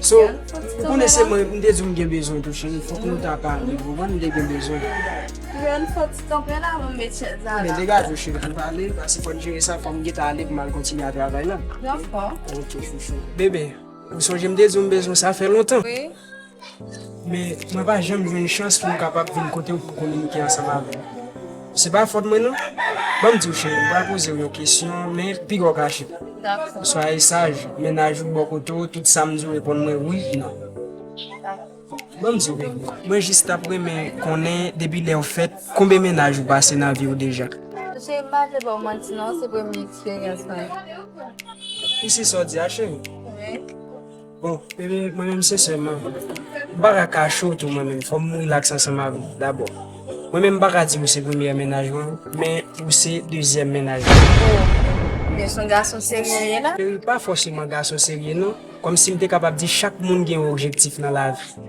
So, ou konnen se mwen, m te di w m gen bezwen tou cheri, fòk nou ta pale, ou konprann, m te gen bezwen. Ren, fòk ti kanpe la pou m met chèz la la. Men degaje w cheri pou m pale, pase fò n jere sa, fò m gen tan ale pou m al kontinye a travay la. Dòfò. Ok chouchou. Bebe, ou sonje m te di w m bezwen sa fè lontan? Wi. Men, mwen pa janm jwenn chans pou m kapab vin kote w pou kominike ansanm avè m. Se pa fòt mwen non. Ban m di w cheri, m pral poze w yon kesyon, men piga w kache. Dakò. Swaye saj, mennaj ou bò kote w, tout sa m di w reponn mwen wi, non. Dakò. Ban m di w bebe, mwen jis t ap renmen konnen depi lè w fèt, konbe mennaj ou pase nan vi w deja? Cheri, m pa vle ba w manti non, se premye eksperyans mwen. Ou si sa w di a cheri? Wi. Bon bebe mwen menm sensèman m paka kache w tou mwen menm fò m rilaks ansanm avè w dabò mwen menm m paka di w se premyè mennaj mwen men ou se dezyèm mennaj mwen men son gason serye w ye la? Cheri pa fòseman gason serye non kòmsi m te kapab di chak moun gen yon objektif nan lavi.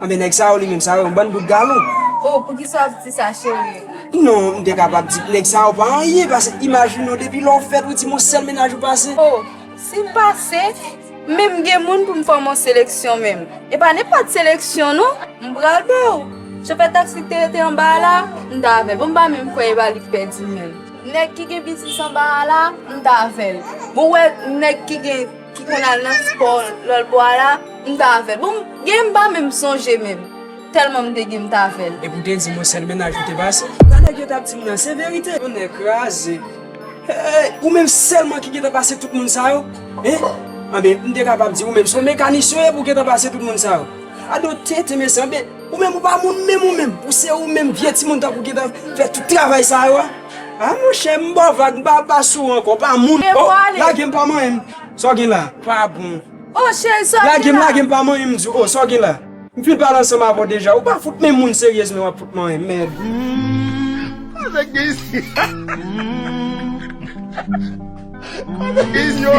Anben nèg sa yo li menm sa yo yon bann bout galon. Oh poukisa wap di sa cherie. Non m te kapab di nèg sa yo pa anyen pase imajine w depi lè w fèt ou di m yon sèl mennaj ou pase. Oh si m pase men m gen moun pou m fòm yon seleksyon menm e pa nenpòt seleksyon non m pral ba w. Chofè taksi ki te rete anba a la m ta avè l bon m pa menm kwè e pa li k pèdi menm. Nèg ki gen biznis anba a la m ta avè l bon ou wè nèg ki gen. ki konn al nan spò lòl bò a la m t avè l bon genlè m pa menm sonje menm tèlman m te gen m t avè l. Epi ou te di mwen sèl mennaj ou te pase. Sa nèg yo tap dim nan se verite. Yon nè kraze hey ou menm sèlman ki gentan pase tout moun sa yo hein anben m te kapab di ou menm son mekanisyen ou ye pou gentan pase tout moun sa yo a do tenten mesye anben. Ou menm ou pa moun menm ou menm pou se ou menm vye timoun tankou ki ta fè tout travay sa yo a ah monchè m baw vag m pa al pase ou ankò ou pa moun oh lagem pa manyen m sa w gen la pa bon lagem lagem pa manyen m di w oh sa w gen la m fin pale ansanm avè w deja ou pa fout menm moun seryèz menm wap fout manyen m mèd sa nèg gen isi sa nèg gen isi yo.